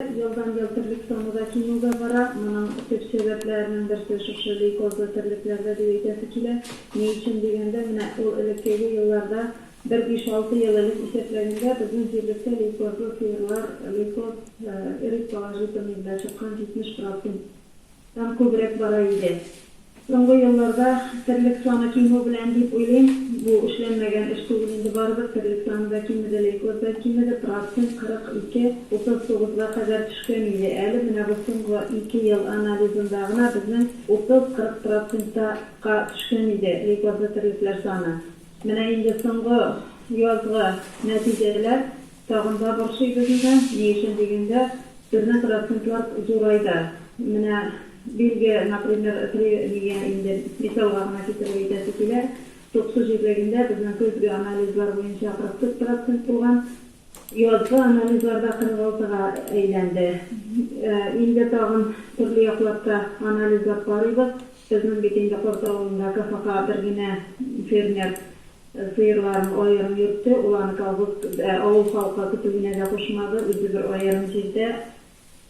Елдан-ел терлек саны да кимүгә бара. Моның төп сәбәпләренең берсе шушы лейкозлы терлекләрдә дип әйтәсе килә. Ни өчен дигәндә, менә ул элеккеге елларда, бер биш-алты ел элек исәпләгәндә, безнең җирлектә лейкозлы сыерлар, лейкоз, эрит положительный, белән чыккан 70 процент Дан күбрәк бара иде. Соңгы елларда терлек саны кимү белән дип уйлыйм, бу эшләнмәгән эш түгел инде, барыбер терлек саны да кимеде, лейкоз да кимеде, процент 42, 39 га кадәр төшкән иде, әле менә бу соңгы ике ел анализында гына безнең 30, 40 процентта ка төшкән иде, лейкозлы терлекләр саны. Менә инде соңгы язгы нәтиҗәләр. Тагын да борчыйбыз инде. Ни өчен дигәндә, безнең процентлар зурай да. Менә Бельгия, например, при мия инде мисалга гына китереп әйтәсе килә, туксу җирлегендә безнең көзге анализлар буенча 44 процент булган, язгы анализларда 46 га әйләнде. Инде тагын төрле якларда анализлап карыйбыз. Безнең бит инде Корт авылында КФХ бер генә фермер. Сыерларын аерым йөртте, ул аны колхоз, ә авыл халкы көтүенә дә кушмады, үзе бер аерым җирдә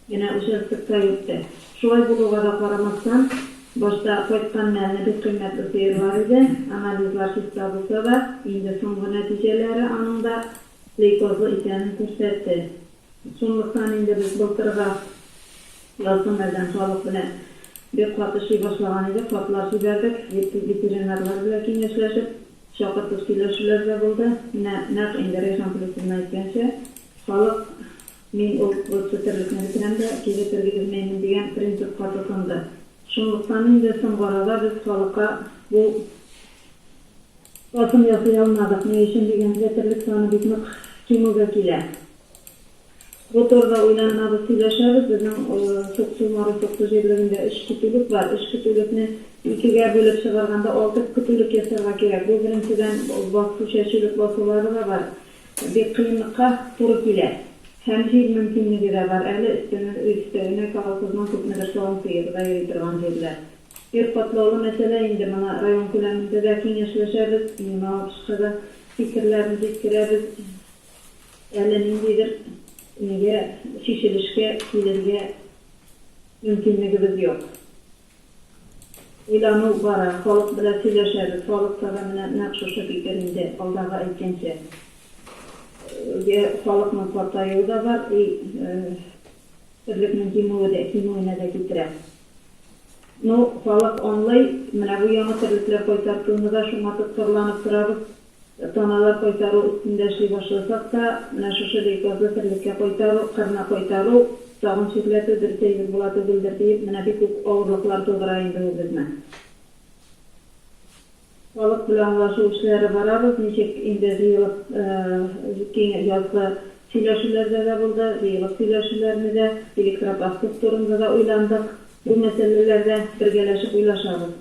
генә участокта йөртте. Шулай булуга да карамастан, башта кайткан мәлне бик кыйммәтле сыерлар иде. Анализлар чиста булса да, инде соңгы нәтиҗәләре аның да лейкозлы икәнен күрсәтте. Шунлыктан инде без былтыргы язгы мәлдән халык белән бик каты ши башлаган идек, хатлар җибәрдек, ветеринарлар белән киңәшләшеп, чакыртып сөйләшүләр дә булды. Менә нәкъ инде Рәйхан Плюсовна әйткәнчә, халык мин ул госпитальлекне бетерәм дә, кибет тергезмәймен дигән принципка тотынды. Шунлыктан инде соңгы арада без халыкка бу. Басым ясый алмадык, ни өчен дигәндә, терлек саны бик нык кимүгә килә. Бу турыда уйланабыз, сөйләшәбез. Безнең Суксу, Маро Суксу җирлегендә өч көтүлек бар. Өч көтүлекне икегә бүлеп чыгарганда, алты көтүлек ясарга кирәк. Бу, беренчедән, басу, чәчүлек басулары да бар. Бик кыенлыкка туры килә. Һәм җир мөмкинлеге дә бар әле, өстәвенә колхозның күпмедер савым сыеры да йөри торган җирләр. Ир катлаулы мәсьәлә инде моңа район күләмендә дә киңәшләшәбез, Лениногорскка да фикерләрне җиткерәбез. Әле ниндидер нигә чишелешкә килергә мөмкинлегебез юк. Уйлану бара, халык белән сөйләшәбез, халыкта да менә нәкъ шушы фикер инде, алдагы әйткәнчә. Йә халыкның картаюы да бар, и терлекнең кимүе дә, кимүенә дә китерә. Ну, халык аңлый, менә бу яңа терлекләр кайтартуны да шуңа тоткарланып торабыз. Таналар кайтару өстендә эшли башласак та, менә шушы лейкозлы терлеккә кайтару, кырны кайтару, тагын чирләтү дөрес әйбер була түгелдер, диеп, менә бик үк авырлыклар тудыра инде ул безне. Халык белән аңлашу эшләре барабыз, ничек инде җыелып киң язгы сөйләшүләрдә дә булды, җыелып сөйләшүләрне дә, электропаспорт турында да уйландык. Бу мәсьәләләрдә бергәләшеп уйлашабыз.